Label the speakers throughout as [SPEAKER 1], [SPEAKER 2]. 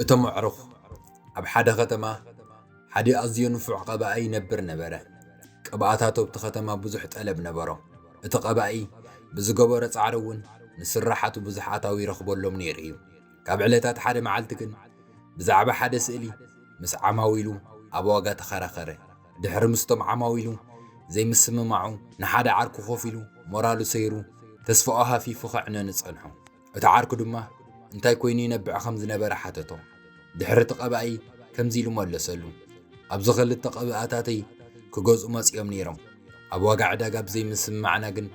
[SPEAKER 1] እቶም ኣዕሩኽ ኣብ ሓደ ኸተማ ሓደ ኣዝዮ ንፉዕ ቐባኢ ይነብር ነበረ። ቅብኣታቱ ኣብቲ ኸተማ ብዙሕ ጠለብ ነበሮ፣ እቲ ቐባኢ ብዝገበሮ ጻዕሪ እውን ንስርሓቱ ብዙሕ ኣታዊ ይረኽበሎም ነይሩ እዩ። ካብ ዕለታት ሓደ መዓልቲ ግን፣ ብዛዕባ ሓደ ስእሊ ምስ ዓማዊሉ ኣብ ዋጋ ተኸራኸረ። ድሕሪ ምስቶም ዓማዊሉ ዘይምስምማዑ፣ ንሓደ ዓርኩ ከፊሉ ሞራሉ ሰይሩ፣ ተስፋኡ ሃፊፉ ከዕነኑ ጸንሑ። እቲ ዓርኩ ድማ እንታይ ኮይኑ ይነብዕ ከም ዝነበረ ሓተቶ። ድሕሪ እቲ ቀባኢ ከምዚ ኢሉ መለሰሉ፣ ኣብዚ ክልተ ቀብኣታተይ ክገዝኡ መጺኦም ነይሮም። ኣብ ዋጋ ዕዳጋ ብዘይምስምማዕና ግን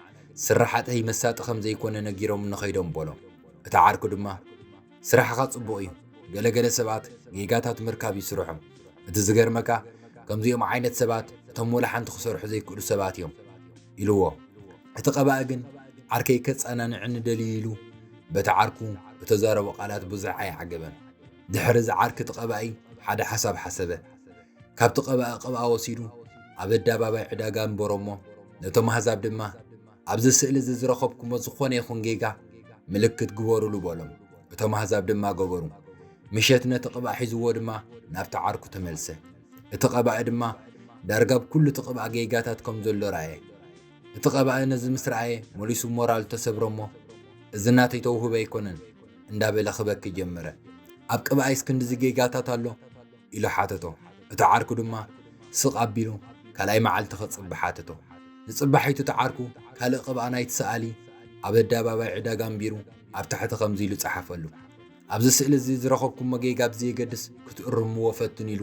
[SPEAKER 1] ስርሓተይ መሳጢ ከም ዘይኮነ ነጊሮምኒ ከይዶም በሎ። እቲ ዓርኩ ድማ፣ ስራሕኻ ጽቡቕ እዩ፣ ገለ ገለ ሰባት ጌጋታት ምርካብ እዩ ስርሖም። እቲ ዝገርመካ ከምዚኦም ዓይነት ሰባት እቶም ወላ ሓንቲ ክሰርሑ ዘይክእሉ ሰባት እዮም ኢሉዎ። እቲ ቀባኢ ግን ዓርከይ ከጸናንዕኒ ደልዩ ኢሉ በቲ ዓርኩ እተዛረቦ ቃላት ብዙሕ ኣይዓገበን። ድሕሪ እዚ ዓርኪ እቲ ቀባኢ ሓደ ሓሳብ ሓሰበ። ካብቲ ቀባኢ ቅብኣ ወሲዱ ኣብ ኣዳባባይ ዕዳጋ ኣንበሮ እሞ ነቶም ኣህዛብ ድማ፣ ኣብዚ ስእሊ እዚ ዝረኸብኩሞ ዝኾነ ይኹን ጌጋ ምልክት ግበሩሉ በሎም። እቶም ኣህዛብ ድማ ገበሩ። ምሸት ነቲ ቅብኣ ሒዝዎ ድማ ናብቲ ዓርኩ ተመልሰ። እቲ ቀባኢ ድማ ዳርጋ ኣብ ኩሉ እቲ ቅብኣ ጌጋታት ከም ዘሎ ረኣየ። እቲ ቀባኢ ነዚ ምስ ረኣየ መሊሱ ሞራሉ ተሰብረ እሞ እዚ ናተይ ተውህቦ ኣይኮነን እንዳበለ ክበኪ ጀመረ። ኣብ ቅብኣይስ ክንድዚ ጌጋታት ኣሎ? ኢሉ ሓተቶ። እቲ ዓርኩ ድማ ስቕ ኣቢሉ ካልኣይ መዓልቲ ክጽቢ ሓተቶ። ንጽባሒቱ እቲ ዓርኩ ካልእ ቅብኣ ናይቲ ሰኣሊ ኣብ ኣደባባይ ዕዳጋ ኣንቢሩ ኣብ ታሕቲ ከምዚ ኢሉ ጸሓፈሉ፣ ኣብዚ ስእሊ እዚ ዝረኸብኩሞ ጌጋ ብዘየገድስ ክትእርምዎ ፈትኑ ኢሉ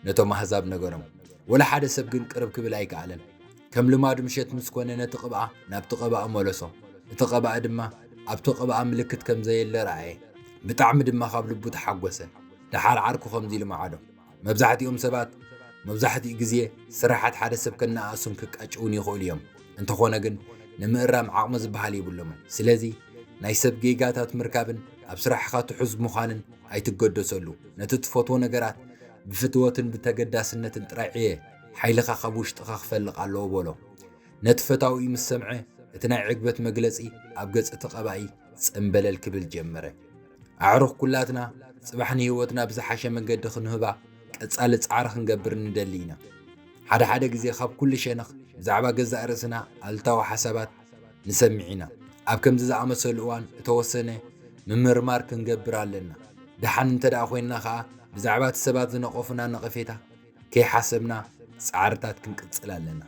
[SPEAKER 1] ነቶም ኣህዛብ ነገሮም። ወላ ሓደ ሰብ ግን ቅርብ ክብል ኣይከኣለን። ከም ልማዱ ምሸት ምስ ኮነ ነቲ ቅብኣ ናብቲ ቀባኢ መለሶ። እቲ ቀባኢ ድማ ኣብቲ ቅብኣ ምልክት ከም ዘየለ ረኣየ። ብጣዕሚ ድማ ካብ ልቡ ተሓጎሰ። ደሓር ዓርኩ ከምዚ ኢሉ መዓዶ። መብዛሕትኦም ሰባት መብዛሕትኡ ግዜ ስርሓት ሓደ ሰብ ከነኣእሱን ክቃጭዉን ይኽእሉ እዮም፣ እንተኾነ ግን ንምእራም ዓቕሚ ዝበሃል የብሎምን። ስለዚ ናይ ሰብ ጌጋታት ምርካብን ኣብ ስራሕኻ ትሑዝ ምዃንን ኣይትገደሰሉ። ነቲ ትፈትዎ ነገራት ብፍትወትን ብተገዳስነትን ጥራይ ዕየ፣ ሓይልኻ ካብ ውሽጥኻ ክፈልቕ ኣለዎ በሎ። ነቲ ፈታዊኡ ምስ ሰምዐ እቲ ናይ ዕግበት መግለጺ ኣብ ገጽ እቲ ቀባኢ ጸምበለል ክብል ጀመረ። ኣዕሩኽ ኩላትና ጽባሕ ንህይወትና ብዝሓሸ መንገዲ ክንህባ ቀጻሊ ጻዕሪ ክንገብር ንደሊ ኢና። ሓደ ሓደ ግዜ ካብ ኩሉ ሸነኽ ብዛዕባ ገዛእ ርእስና ኣሉታዊ ሓሳባት ንሰምዕ ኢና። ኣብ ከምዚ ዝኣመሰሉ እዋን እተወሰነ ምምርማር ክንገብር ኣለና። ደሓን እንተድኣ ዄንና ኸኣ ብዛዕባ እቲ ሰባት ዝነቐፉና ነቐፌታ ከይሓሰብና ጻዕርታት ክንቅጽል ኣለና።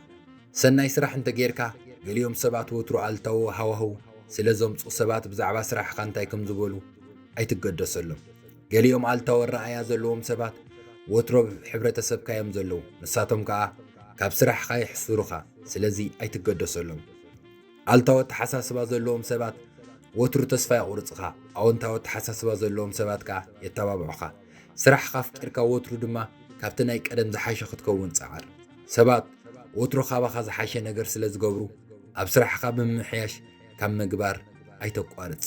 [SPEAKER 1] ሰናይ ስራሕ እንተ ጌርካ፣ ገሊኦም ሰባት ወትሩ ኣሉታዊ ሃዋህው ስለ ዘምጽኡ ሰባት ብዛዕባ ስራሕኻ እንታይ ከም ዝበሉ ኣይትገደሰሎም። ገሊኦም ኣሉታዊ ኣረኣእያ ዘለዎም ሰባት ወትሩ ኣብ ሕብረተሰብካ እዮም ዘለዉ፣ ንሳቶም ከኣ ካብ ስራሕኻ የሕስሩኻ፣ ስለዚ ኣይትገደሰሎም። ኣሉታዊ ኣተሓሳስባ ዘለዎም ሰባት ወትሩ ተስፋ የቝርጹኻ፣ ኣወንታዊ ኣተሓሳስባ ዘለዎም ሰባት ከኣ የተባብዑኻ። ስራሕኻ ኣፍቂርካ ወትሩ ድማ ካብቲ ናይ ቀደም ዝሓሸ ክትከውን ጸዓር። ሰባት ወትሩ ካባኻ ዝሓሸ ነገር ስለ ዝገብሩ፣ ኣብ ስራሕኻ ብምምሕያሽ ካብ ምግባር ኣይተቋርጽ።